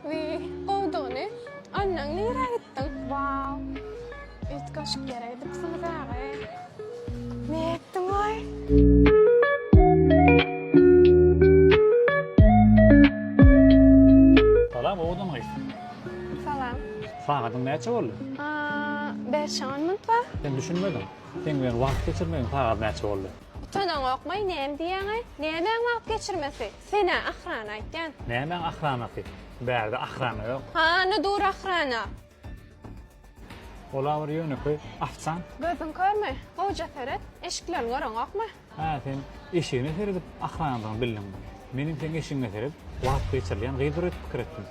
Wiý, gowdugyny. Annaň nirä gitdiň? Waw. Üýtgeşik ýere gidipsiňiz aga-eý. Ne etdiňoý? Salam, owadan gyz. Salam. Sagadyň näçe boldy? Bäş-on minut bar. Sen düşünmediň. Seň bilen wagt geçirmegiň sagaty näçe boldy? Utanaňokmaý, näme diýýäňaý? Nämäň wagt geçirmesi? Senä ahrana aýtýan. Nämäň ahranasy? Bärde ahrana ýok. Hany dur ahrana? Ol-a bir ýönekeý ofisant. Gözüň körmi? Gowja seret. Eşiklerini göreňokmy? Hä, sen eşigine seredip ahranadygyny bildiňmi? Menem seň eşigiňe seredip wagt geçirilýän gyzdyr öýdüp pikir etdim.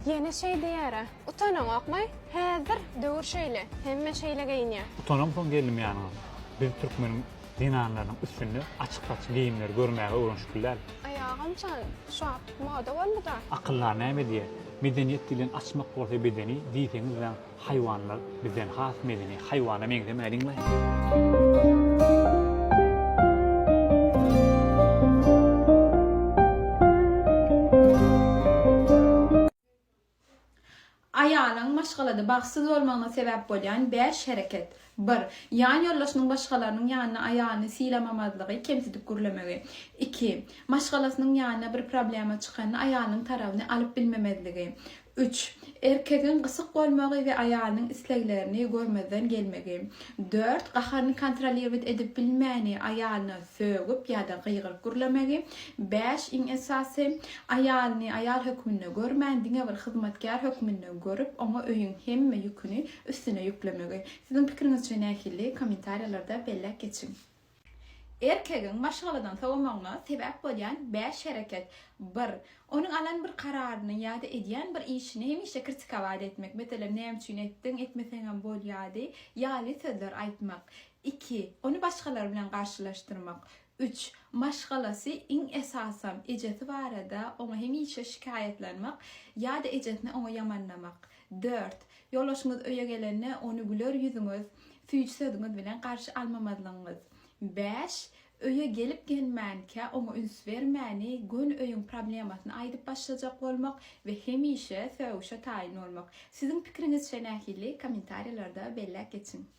Ýene şeý diýer-ä. Utanaňokmy? Häzir döwür şeýle, hemme şeýle geýinýär. Utanamsoň geldim ýanyňa. Biz türkmeniň zenanlarynyň üstünde açyk-saçyk geýimleri görmäge öwrenişip biläl. Aýagam çal, şu wagt moda boldy-da. Akyllar näme diýer? Medeniýet diýlen açmak bolsa bedeni, diýseňiz-dä Haýwanlar bizden has medeni, haýwana meňzemäliňmi? Aýalyň maşgalada bagtsyz bolmagyna sebäp bolýan bäş hereket. Bir, ýan ýoldaşynyň başgalarynyň ýanyna aýalyny sylamamazlygy, kemsidip gürlemegi. Iki, maşgalasynyň ýanyna bir problema çykanda aýalynyň tarabyny alyp bilmemezligi. Üç, erkegiň gysyk bolmagy we aýalynyň isleglerini görmezden gelmegi. Dört, gaharyny kontrolirwet edip bilmäni, aýalyna sögüp ýa-da gygyryp gürlemegi. Bäş, iň esasy, aýalyny aýal hökmünde görmän, diňe bir hyzmatkär hökmünde görüp, oňa öýüň hemme ýüküni üstüne ýüklemegi siziň pikiriňizçe nähili kommentariýalarda belläp geçiň. Erkegiň maşgaladan sowamagyna sebäp bolýan bäş hereket bir. Onuň alan bir kararyny ýa-da edýän bir işini hemişe kritikabat etmek, meselem, näme üçin etdiň, etmeseňem bolýady, ýaly sözler aýtmak. Iki. Ony başgalar bilen garşylaşdyrmak. Üç, maşgalasy, iň esasam, ejesi barada oňa hemişe şikaýatlanmak ýa-da ejesini oňa ýamanlamak. Dört, ýoldaşyňyz öýe gelende ony güler ýüzüňiz, süýji sözüňiz bilen garşy almamazlygyňyz. Bäş, öýe gelip-gelmänkä oňa üns bermäni, göni öýüň problemasyny aýdyp başlajak bolmak we hemişe sögüşe taýyn bolmak. Siziň pikiriňizçe nähili? Kommentariýalarda belläp geçiň.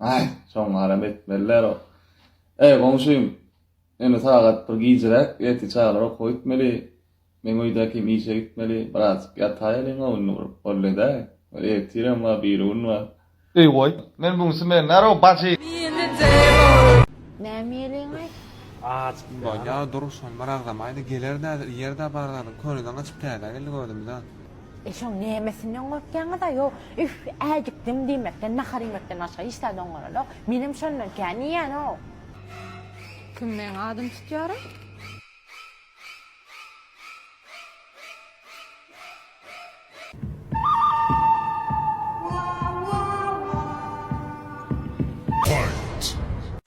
Aý, şoň garam etmeliler-o. Äý, goňşym, indi sagat bir gijräk, ertir çagalar okuwa gitmeli. Meň öýdäki hem işe gitmeli. Birazajyk ýataýalyň göwnüni burup, boldy-daý. Ol ertirem bar, birigün bar. Eý, goý, men bu gün smendarow, bajy. Näme iýeliň-aý? Bolýa, dur, şony bir agzamaýda, geler-dä, iýer-dä bar zadyň. Könedeň gaçyp, täzä geldi gözümize. E şoň nämesinden gorkýaňyz-a? Ýo, üf, äjikdim diýmekden, nahar iýmekden başga hiç zat oňaranok. Menem şondan kän iýýän-ow. Kim meň adym tutýar-a?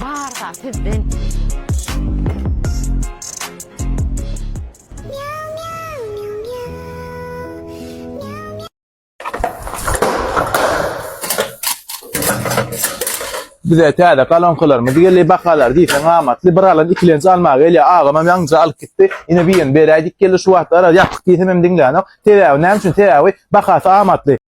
Barha sizden. Bize täze galonkalarymyz geldi. Bakalar diýseň amatly. Bir alan ikilenji alma gelýär. Agam hem ýaňyja alyp gitdi. Ine birini beräýdik geldi şu wagtlar. Ýapyk diýsem hem diňlänok. Sebäbi näme üçin? Sebäbi bahasy amatly.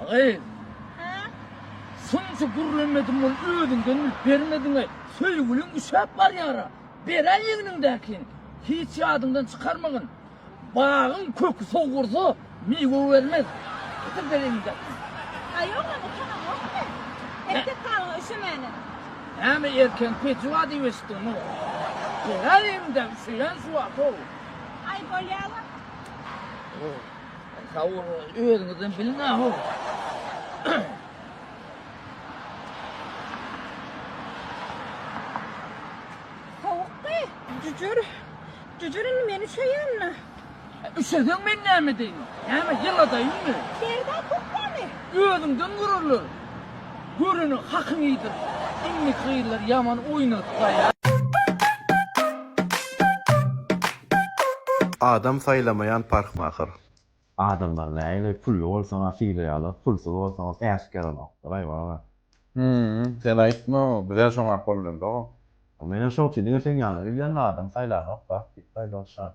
Agy. Ha? Sunca gürlemedim ol özüňden bilip bermediňe. Söýgüliň üşäp barýara. Beräý egniňdäkin. Hiç ýadyňdan çykarmagyn. Bagyň köki sowursa, miwe bermez. Getir ber egniňdäkini. Aý oglan utanamokmy? Erkek halyňa üşemäne. Näme erkegiň peji bar diýip eşitdiňmi? Beräý egniňdäki üşeýän şu wagt-ow. Aý bolýa-la. Sag boluň, özüňizden biliň aho. Tawukdy. Jüjür. Jüjür indi meni söýenmi? Üşeseň men näme deýin? Näme ýyladaýynmy? Berda köpdämi? Özüňden görerler. Görene hakyň iýdir. Indiki gyzlar ýaman oýnadyp gaýa. Adam saýlamaýan parhmahyr. Adamlar nägile pully bolsaňa sylaýarlar pulsuz bolsaňa päsik ýaranokdyr aý baba. Hümm sen aýtma bizem şoňa gollandyk. Menem şoň üçin diňe seň ýanyňa gelýän adam saýlanokda diýip aýdalşar.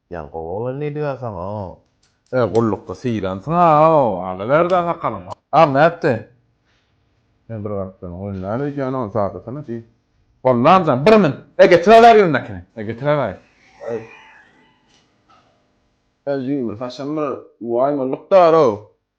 Jan gowy oglan diýdigasaň o. Öe gullukda sylansyň a o alyberdi a sakalyňy. Aw nätdi? Men bir galyp durun goý näme öýdýän ony saýlasana diý. Gollam jan bir min e getiräweri ýüňündäkini e getiräweri. Aý. Özümi saçym bir waý gulluk bar o.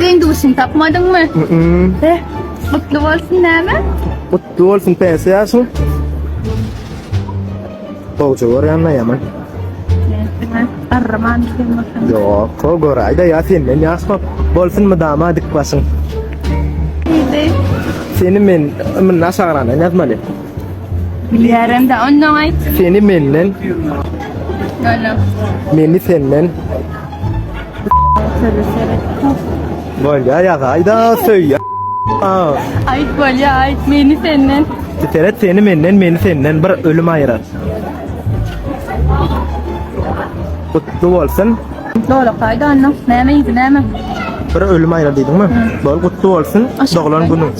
Deňdurşyny tapmadyňmy? Heh, gutly bolsun näme? Gutly bolsun pensiýa ýaşyň. Gowja görýänme ýaman? Näme? Garraman sen bolsaň. Ýok, go göräýdä ýa senden ýaşma. Bolsun mydama dik başyň. Neydi? Seni men ymyny aşagyradan ýazmaly. Bilýärem de ondan aýt. Seni menden, Ýöne. meni senden. Bolya yaga ayda söy Aa. Ayt bolya ayt beni senden. Seret seni menden beni senden bir ölüm ayırar. Kutlu olsun. Kutlu olsun ayda annem. Neme yedi neme. Bir ölüm ayırar dedim mi? Bol kutlu olsun doğulan günün.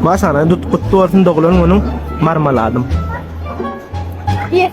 Başana tut kutlu olsun doğulan günün marmaladım. Yes,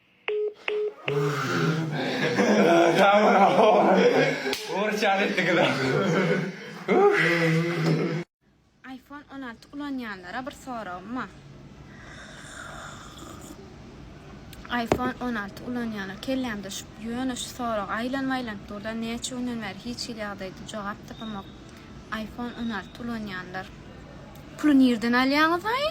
Iphone on alty ulanýanlara bir soragym bar. Iphone on alty ulanýanlar kellämde şu ýöne şu sorag aýlanyp aýlanyp durda näçe günden bäri hiç hili ýagdaýda jogap tapamok. Iphone on alty ulanýanlar. Puly nirden alýaňyzaý?